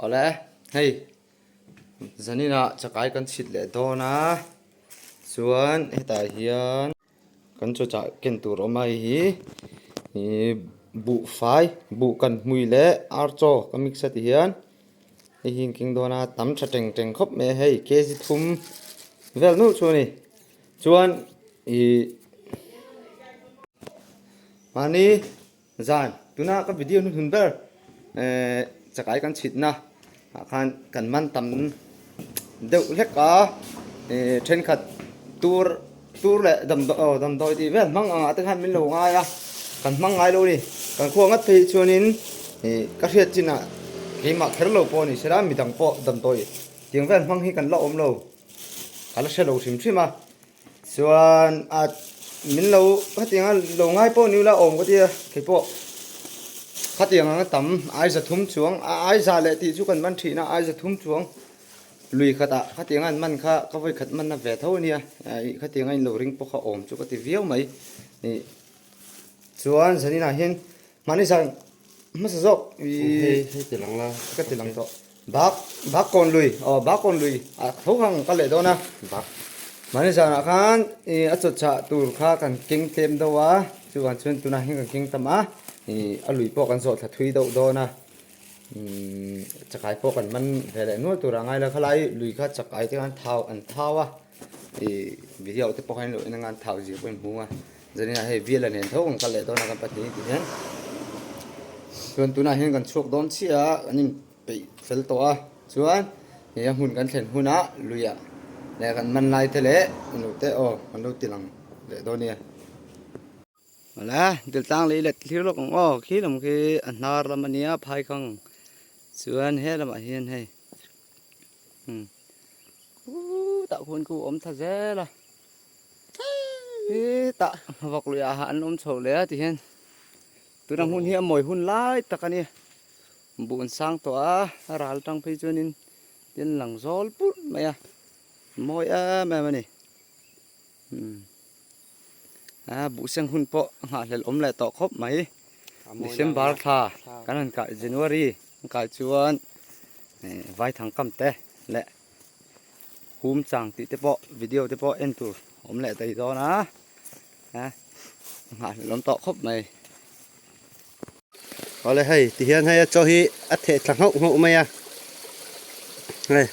Oleh, hei, zanina chakai kan chhit leh dawn a, chuan hetah hian kan chawchah ken tur awm a hi ihh buhfai, buh kan hmui leh archaw ka mix a ti hian. Hei hi engkim dawn a tam tha teng teng khawp mai a hei kg thum vel nuh chu a ni chuan ihh mahni zan tuna ka video hnu hun ber ehh chakai kan chhit na ah khan kan man tam deuh hlek a ehh thenkhat tur-- Tur leh damdawi aw damdawi tih vel hmang ang ah te khan min lo ngai a, kan hmang ngai lo a ni. Kan khua ngat phei hi chuanin ih ka hriat chin ah keimah kher lo pawh a ni sela mi dang pawh damdawi tiang vel hmang hi kan la awm lo, ka la hre lo hrim hrim a. Chuan ah min lo hetiang a lo ngai pawh ni ula awm ka tia keipawh khatiang ang a tam aiza thum chuang a aiza leh tih chu kan man thin a aiza thum chuang Lui khat ah khatianga an man kha ka vawi khat manna ve tho ania, ih khatianga inlo ring pawh kha awm chu ka ti viau mai ih. Chuan zaninah hian mahni zan hmasa zawk ih hei ti lang la ka ti lang tawh. Bak bak kawn lui aw bak kawn lui ah tho hang ka leh dawn a, bak mahni zanah khan ih a chawtchah tur kha kan keng tlem deuh a, chuvang chuan tunah hian kan keng tam a ih a lui pawh kan zawh thla thui deuh dawn a chakai pawh kan man ve leh nual tur ang a ila khalai hi lui kha chakai te khan thau an thau a ih viau te pawh khan in loina ngain thau zir pawh in hung a zanin ah hei biala nen tho ang ka leh dawn a kan pahnih ti hian chuan tunah hian kan chhuak dawn chiah a kan in peih fel tawh a chuan ih a hmun kan thlen huna luia leh kan man lai te leh nute aw kan lo ti lang leh dawn nia. Hawla Dultlang lei let hlir lawk ang aw, khi lam khi a hnar lam a nia Phaikhang chuan he lamah hian hei hmm khutah khuan khu awm tha zel a he tah vak luiah ah an awm chho leh a ti hian tuna hmun hi a mawi hun lai tak a nia bun sang tawh a a ral tang phei chuan in tin lang zawl purh mai a mawi em em a ni hmm aa buhseng hun pawh nghah hlel awm leh tawh khawp mai december thla kan rawn kai january kan kai chuan eh vai thang kam te leh hum chang tih te pawh video te pawh en tur awm leh thei dawn a a nghah hlel awm tawh khawp mai. Awle hei ti hian hei a chaw hi a theh thla nghauh nghauh mai a. Hei.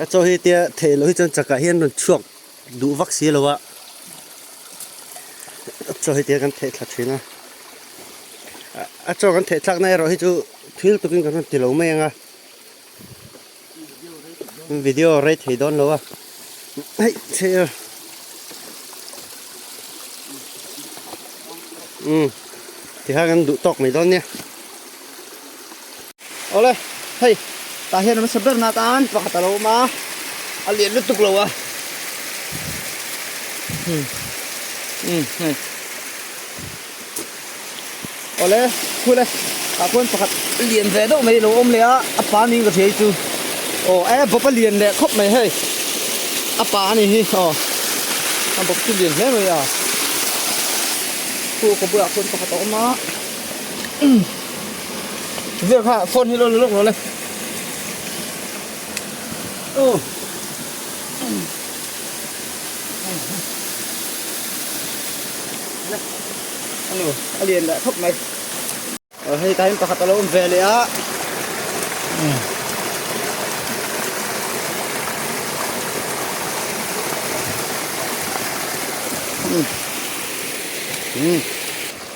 A chaw hi tia theh loh hi chuan chakah hian rawn chhuak duh vak si lo a. A chaw hi tia kan theh thla thin a. A chaw kan theh thlakna erawh hi chu thil tukin kan rawn ti lo mai ang a. video rei thei dawn lo a hei che a um ti hang an duh tawk mai dawn nia ole hei ta hian an sa ber na tan pakhat a lo awm a a lian lutuk lo a um um hei Awle, khule, tah pawhin pakhat lian ve deuh mai a lo awm leh a, a pa niin ka hria hi chu. Aw, e, Bawpa lian leh khawp mai hei, a pa a ni hi, aw, a Bawp chu lian hle mai a. Khu ka bulah pawhin pakhat a awm a, umm, zir kha phone hi lo la lawk lo le. Aw, umm. Anu, a lian leh thawk mai. Ờ, hei tain pakhat alo awm ve leh a. Mm. Mm.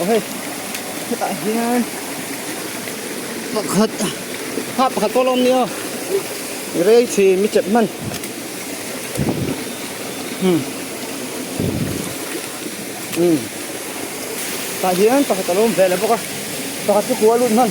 Awhe hetah hian pakhat hah pakhat pawh a lo awm ni aw rei chi mi chet hman hmm hmm tah hian pakhat a lo awm ve leh bawk a pakhat chu kua lut hman.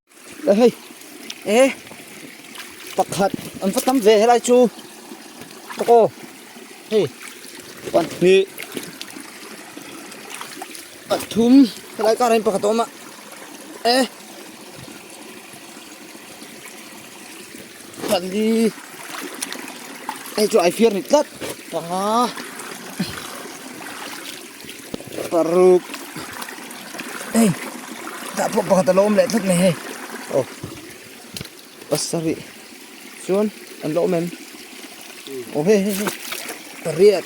Ehei eh pakhat an va tam ve helai chu ko hei pahnih pathum helai kar in pakhat a awm a eh Pali hei chu ai fiar ni tlat panga paruk ei tah pawh pakhat alo awm leh tlat mai hei oh pasarih chuan an lo awm em oh hei hei hei pariat.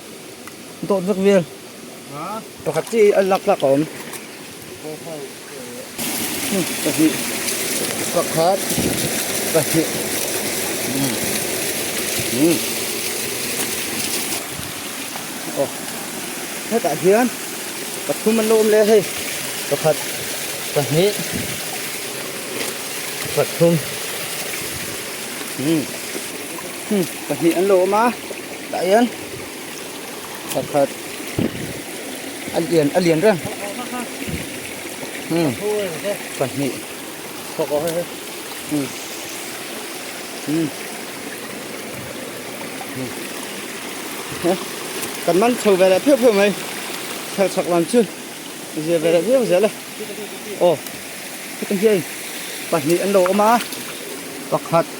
Dawt vek vial. Pakhat chi a lak tlak awm. Pahnih, pakhat, pahnih, umm, aw, hetah hian pathum an lo awm leh a hei, pakhat, pahnih, pathum, umm. Hum pahnih an lo awm a tah hian pakhat a lian a lian reng hum pahnih hum hum hum kan man chho ve leh phiau phiau mai thar chak lam chu zia ve leh viau zel a aw hetiang hian pahnih an lo awm a pakhat--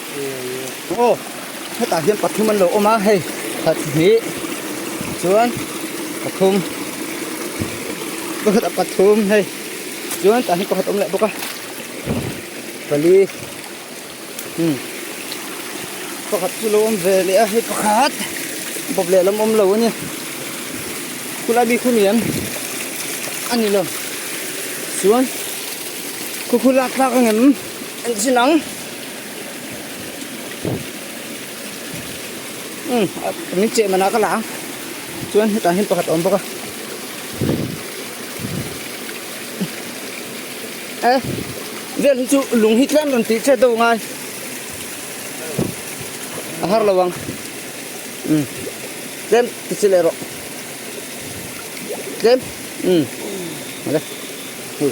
Aw, hetah hian pathum an lo awm a, hei pahnih chuan pathum pakhatah pathum hei chuan tah hian pakhat a awm leh bawk a pali umm pakhat chu lo awm ve leh a hei pakhat bawp leh lam awm lo a nia khulai mi khaw lian a ni lo chuan khukhu lak tlak ang em an chin ang. umm ah min cheh manah ka la a chuan hetah hian pakhat a awm bawk a e vel hi chu lung hi tlem rawn tih chet deuh ngai a har lo ang umm tlem ti che leh rawh tlem umm vale hei.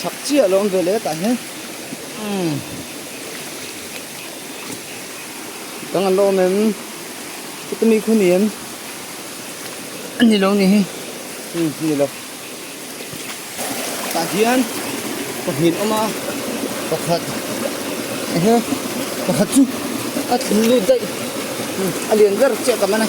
chhak chiah lo ve leh tah hian umm kan ngaih lo awm em heti mikhu ni em ani lo ni hi umm ni lo tah hian pahnih an awm a pakhat ehe pakhat chu a thil lut daih a lian ber chiah ka man a.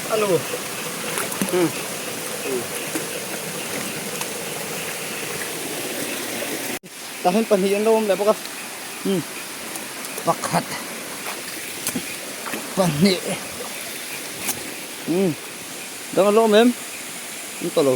Alo. Tah hian pahnih an lo awm leh bawk a. Pakhat. Pahnih. Dang an lo awm em? An tawh lo.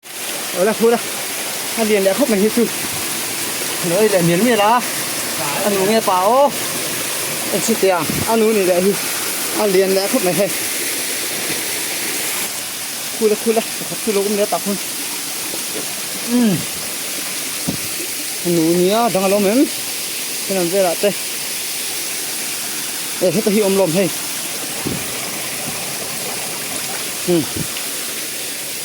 Aw la phur a, a lian leh khawp mai hi chu nawi leh mial mial a, a nu nge pa aw en si tia a nu nih leh hi a lian leh khawp mai hei. Khul a khul a pakhat chu lo awm leh a tak hun umm a nu nia dang alo awm em khen an vel ah te eh heta hi awm lawm hei umm.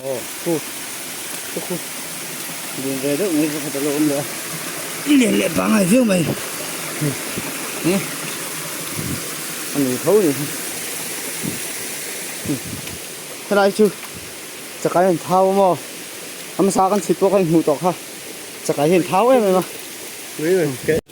Aw khu ka khu din ve deuh mai ka khat alo awm leh a i lian leh pangngai viau mai hi a ni tho ni hi helai chu chakai an thau a maw a hmasa kan chhit pawh ka inhmuh tawh kha chakai hi an thau em em a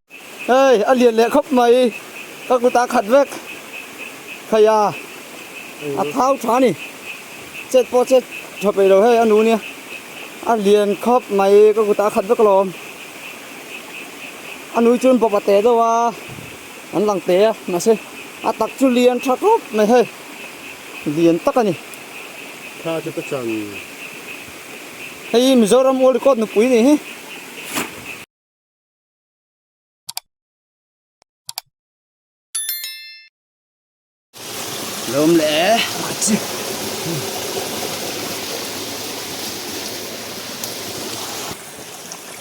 Hei a lian leh khawp mai ka kut a khat vek phei a a thau tha a ni chet pawh chet tha peih lo hei a nu nia a lian khawp mai ka kut a khat vek alawm a nui chuan bawp a teh deuh a an lang teh a mahse a tak chu lian tha khawp mai hei lian tak a ni tha chu ka chan hei hi Mizoram old record nupui a ni hi. Lom le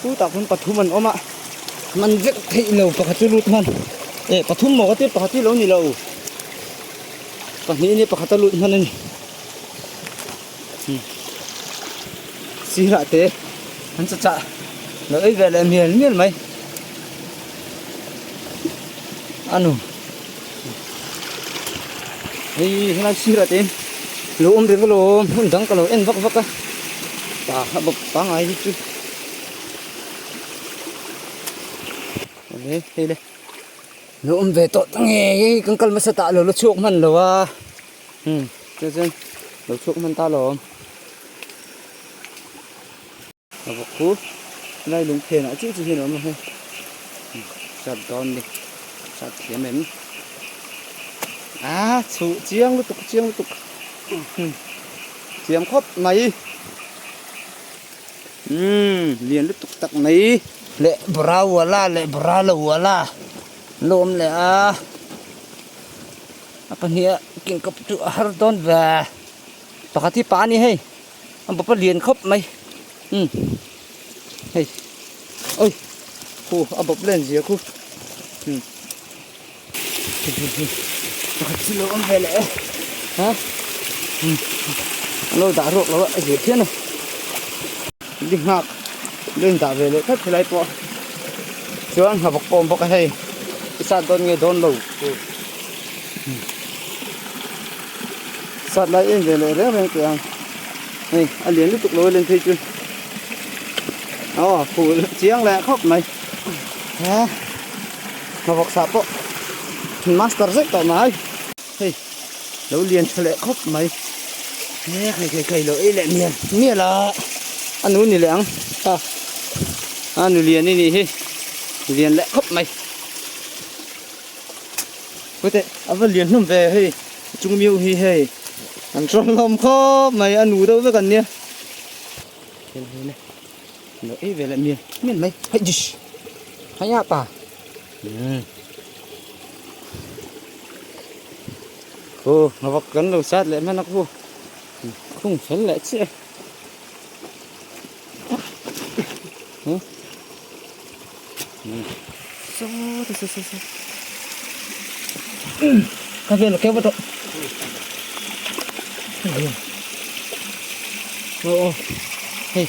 Pu tak hun pathum an oma man vek thei lo pakhat chu lut man e pathum mo ate pakhat hi lo ni lo pahnih ni pakhat a lut man ani Sirah te an sa chah lo ei ve leh mial mial mai anu hei helai sirah te lo awm ve vawlo hmun dang ka lo en vak vak a pa a bawp pangai hi chu he heile lo awm ve tawh ta nge kan kal hmasa tah lo la chhuak hman lo a Umm tunah chuan lo chhuak hman ta lo ang. Ka vawk pu tunai lung phenah chiah chiah hian a awm lo he. Chhuat dawn ni, chhuat thiam em. Aa chhuh chiang lutuk chiang lutuk. Umm thiam khawp mai. Umm lian lutuk tak mai. Le bra uala le bra lo uala an lo awm leh a. a pahnih ah kingkawp chu a har dawn ve a pakhat hi pa a ni hei a bap a lian khawp mai umm hei awih khaw a bap len zia khaw umm he he he pakhat hi a lo awm ve leh e ha umm a lo dah ruak lo a zir thiam a. Dik nghak leh in dah ve leh tlat helai pawh chuan ngha bawk pawh a awm bawk a hei i sat dawn nge dawn lo tur sat lai em ve leh reng reng teh ang hei a lian lutuk lo a len phei chu aw phul chiang leh khawp mai he ngha bawk sah pawh master zet tawh mai. Hei, lo lian tha leh khawp mai. Nge kai kai kai lo ei leh mial mial a. Anu ni leh ang. Ha. A nu lian i nih hi. Lian leh khawp mai. Pute, a va lian hlawm ve hei. Chung miu hi hei. An tawng hlawm khawp mai a nu deuh vek an nia. Hei hei le. Lo ei ve leh mial mial mai. Hei dish. Hei a pa. Aw a vak kan lo sat leh hman a khu khung fel leh chiah e saw saw saw saw ka vel keuh tawh aw aw hei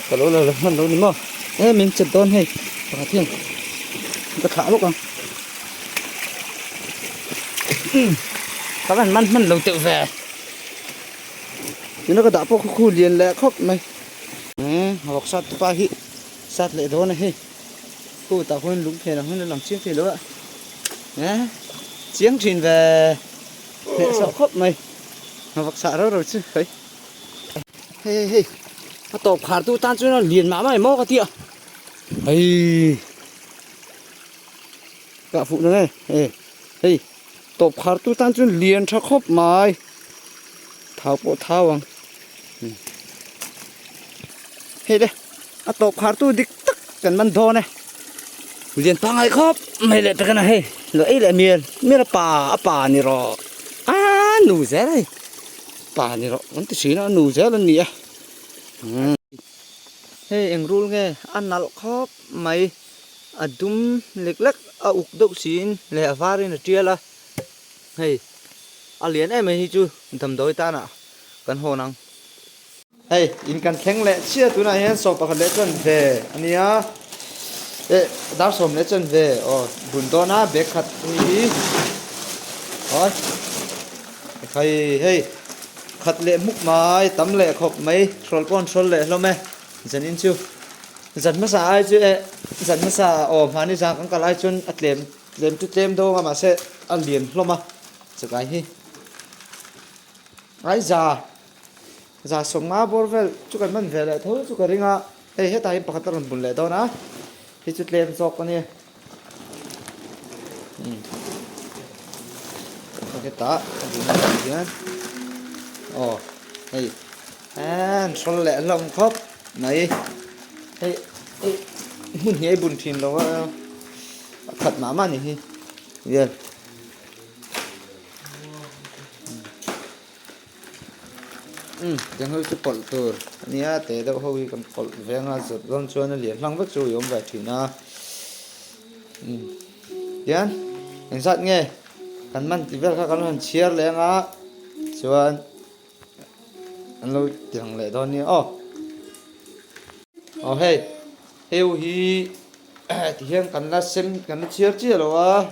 ka lo la leh hman lo ni maw He min chet dawn hei pakhat hian min ka thlah lawk a ka rawn man hman lo teuh ve tuna ka dah pawh ka khu lian leh khawp mai eh ruksat tupa hi sat leh dawn a hei khu tah huan lung phen ang hian a lang chiang thei lo a eh chiang thin ve hneh sawh khawp mai ruksat rau rau chu hai Hei hei hei. A tawp khar tu tan chuan a lian mah mai maw ka tia. Hei. Ka fuh na nge. Hei. Hei. Tawp khar tu tan chuan lian tha khawp mai. Thau pawh thau ang. Hmm. Hei le. A tawp khar tu dik tak kan man dawn e. Lian pangai khawp mai le takana hei. Lo ei le mial. Mial a pa a pa ni rawh. A nu zel hei. Pa ni rawh kan ti thin a a nu zel an ni a umm hei eng rul nge a nalh khawp mai a dum lek lek a uk deuh siin leh a var in a tial a hei a lian em mai hi chu damdawi tan ah kan hawn ang. Hei in kan thleng leh chiah tunah hian sawm pakhat leh chuan ve a nia eh dar sawm leh chuan ve aw bun dawn a bag khat a ni hi hawi khai hei khat leh muk mai tam leh khawp mai hrawl pawh an hrawl leh hlawm e zanin chu zan hmasa ai chu eh zan hmasa aw mahni zan kan kalh ai chuan a tlem tlem chu tlem dawn a mahse a lian hlawm a chawtah hi ai za Zahsawm nga bawr vel chu kan man ve leh tho chu ka ring a, hei hetah hian pakhat a rawn bun leh dawn a, hi chu tlem zawk a ni. Hetah a bun a nih hian aw hei an hrawl leh hlawm khawp mai, hei hmun hi a bun thin lo a, a khat mah mah a ni hi vel. Umm, Denghlui chu pawlh tur a nia, teh deuh ho hi kan pawlh veng a, zet dawn chuan a lian hlang vek chu i awm ve thin a. Umm, tian engzat nge kan man tih vel kha kan lo han chhiar leh ang a, chuan an lo tiang leh dawn nia. Aw, aw hei, hei ho hi tihian kan la sem, kan la chhiar chiah lo a.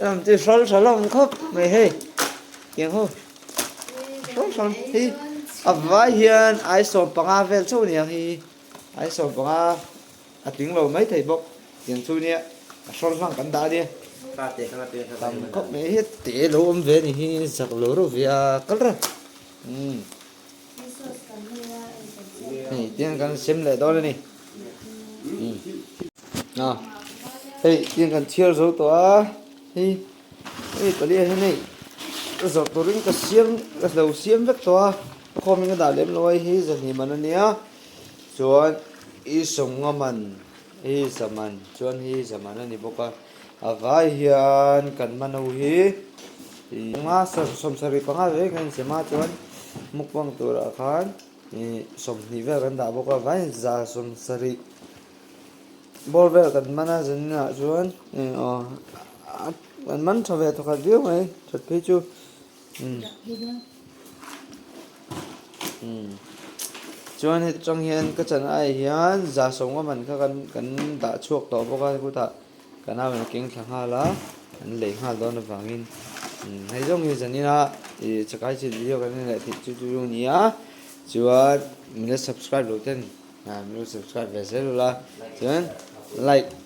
Ram chu hralh hralh awm khawp mai hei kiang ho hralh hralh hi a vai hian ai sawm panga vel chauh nia hi ai sawm panga a tling lo mai thei bawk tiang chu nia a hralh hlang kan dah ania tam khawp mai hi te lo awm ve ni hi zak lo reuh ve a kal reuh umm. Hei, tiang kan sem leh dawn ni. À, hei, tiang kan thiar zo tawh a. Hei, hei, pali a hei, zo tawh rin ka siam, ka hlo siam vek tawh a. Ka khawm in ka dah lem lo a, hei, za hnih man a nia. Chuan, i sawmnga man, hei, za man, chuan hei, za man a ni bawk a. A vai hian kan mano hi ih panga sawmsarih panga ve kan insiam a chuan mukbang turah khan ih sawmhnih vel kan dah bawk a vai za sawmsarih bawr vel kan hman a zaninah chuan ih aw kan man tha ve thawkhat viau mai that phei chu. Chuan heti chang hian ka chanaah hian za sawmnga man kha kan kan dah chhuak tawh bawk a khutah ka nau in a keng thla nghal a an lei nghal dawn avangin hei zawng hi zan ina ih chakai chilh video kan en leh thei chu chu chu a ni a chuan min la subscribe loh ten ah min la subscribe ve zel ula chuan like